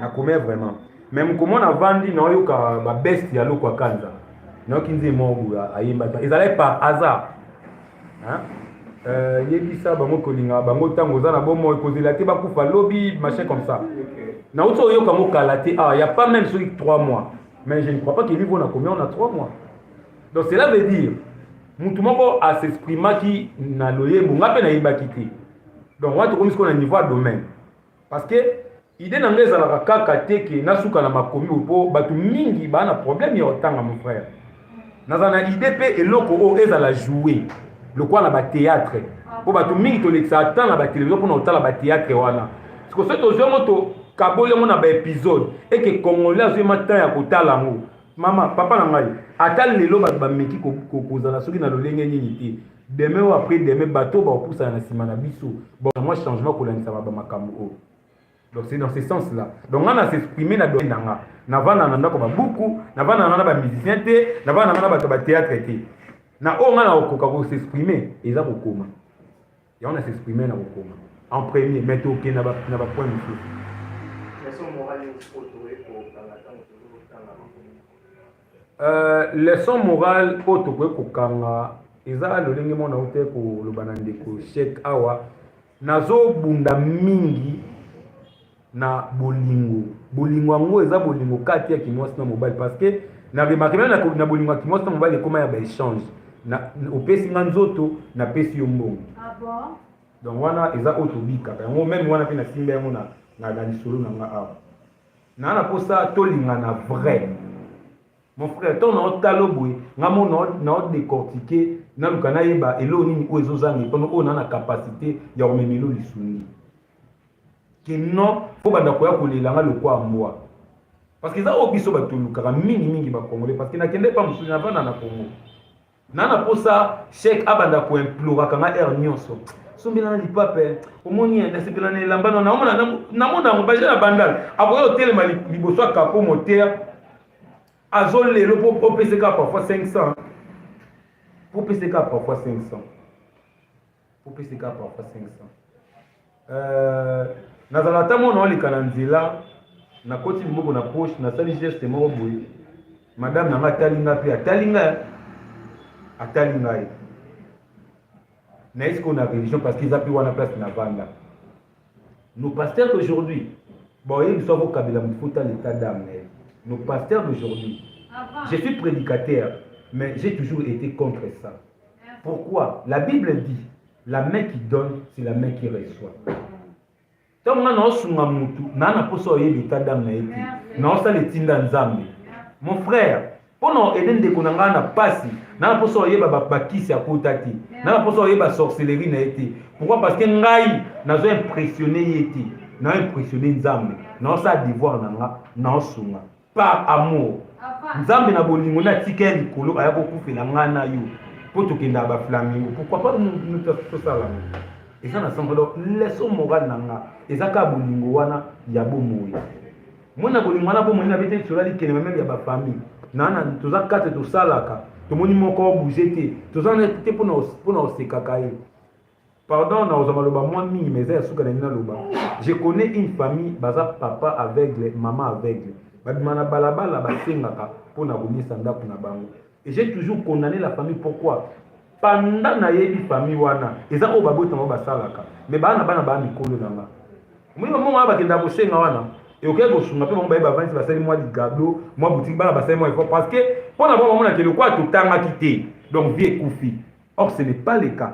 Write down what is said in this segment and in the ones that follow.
na komea vraiment mais mokoma na vandi naoyoka babeste ya lokwa kanza nayoki nzembo moko boye ayembaka ezalaki par hasard euh, yebisa bango kolinga bango ntango oza na bomoi kozela te bakufa lobi machin comme ça nauti oyoka yango kala te awa ah, ya pas même soki 3 mois mais je ne crois pas que niveau na combien on a 3 mois donc cela veut dire motu moko asexprimaki na loyembo ngai mpe nayebaki te donc wana tokomi sikoyo na niveau ya domaine Parce que idée na ngai ezalaka kaka te ke nasuka na makomi oyo mpo bato mingi baa na problème ya kotanga mon frère naza na idée mpe eloko oyo ezala joue lokola na batéâtre mpo bato mingi tolekisaka temps na batelevizio mpona kotala batéâtre wana siko soki tozwi yango tokaboli yango na baepisode eke congolais azwi ma temps ya kotala yango mama papa na ngai ata lelo bato bameki kozala soki na lolenge nini te demain ou après demain bato oyo bakopusana na nsima na biso bamwa changement kolandisama bamakambo oyo donc c'est dans ce sens là donc nga na s'exprime na domaine na nga navanda na ndako babuku navanda na nga na bamusicien te navanda na nga na bato ya bateatre te na oyo nga nakokoka kosexprime eza kokoma yango na s'exprime na kokoma en premier mais tokende na bapoint mosusu Euh, leçon morale oyo tokoki kokanga eza lolenge mona ote koloba na ndeko shek awa nazobunda mingi na bolingo bolingo yango eza bolingo kati ya kimwasi na mobali parce que na remarke meme na bolingo ya kimwasi na mobali ekoma ya baechange opesi nga nzoto napesi yo mbongo ah donc wana eza oyo tobikaka yango meme wana mpe nasimba yango na lisolo na nga awa naa na mposa tolingana vrai mon frère ntango na otala oboye nga mo na odecortike naluka nayeba eloo nini oyo ezozanga epano oyo naa na capacité ya komema elo lisungi ke non fo banda koya kolela nga lokwa mbwa parce que eza oyo biso bato olukaka mingimingi bacongolais parce que nakende epa mosusu navanda na congo na na posa cheikh abanda ko imploraka nga heure nyonso sombela na lipape eh. omoni eh, nasepela na elamba no naomona namona yango baja na bandal akoya otelema liboso ya kapo motere azolelo mpo opeseka parfois 500 mpo opeseka parfois 500 opesi kaka parfois 500 euh, nazala ata mwana oleka na nzela nakoti liboko na poche nasali geste moko boye madame na ngai atali ngai mpe atali ngai atali ngai nayebi sikoyo na religion parce que eza mpe wana place na vanda Nos pasteurs d'aujourd'hui, bon, il faut vous kabila mfuta l'état d'âme. Nos pasteurs d'aujourd'hui, je suis prédicateur, mais j'ai toujours été contre ça. Pourquoi La Bible dit, la main qui donne, c'est la main qui reçoit. ntango ngai naosunga motu naa na mposa oyebi état d'âme na ye te naosala etinda nzambe mon frère mpo na ede ndeko na ngai na mpasi na na mposa oyeba bakisi akota te na na mposa oyeba sorcellerie na ye te pourquoi parce que ngai nazo impressionne ye te na impressionne nzambe naosala devoir na nga naosunga par amour nzambe na bolingo natika ya likolo aya kokufela ngai na yo mpo tokendaka baflamingo pourquoi pas tosala eza na sango donc leso morale na nga eza kaka bolingo wana ya bomoi mwana bolingo wana bomoni na bete tola likele mameme ya bafamille nana toza kate tosalaka tomoni moko bouge te toza na te mpona kosekaka ye pardon na ozwa maloba mwa mingi ma eza ya suka na nini naloba je connais une famille baza papa aveugle mama aveugle babima na balabala basengaka mpo na komisa ndako na bango Et j'ai toujours condamné la famille pourquoi pendant nayebi famille wana eza oyo babotama oyo basalaka mais bana bana baa mikolo na nga omoni bango wana bakendaka kosenga wana ekokaki kosunga mpe bango baye bavandi basali mwa ligado mwa botiki bana basali mwa effort parce que mpo na bango bamonaka elokola totangaki te donc vie ekufi or ce n'est pas le cas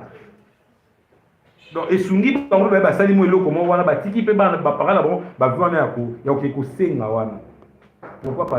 donc esungi bango baye basali mwa eloko moko wana batiki mpe bana bapara na bango bavi wana ya koke kosenga wana pourquoi parce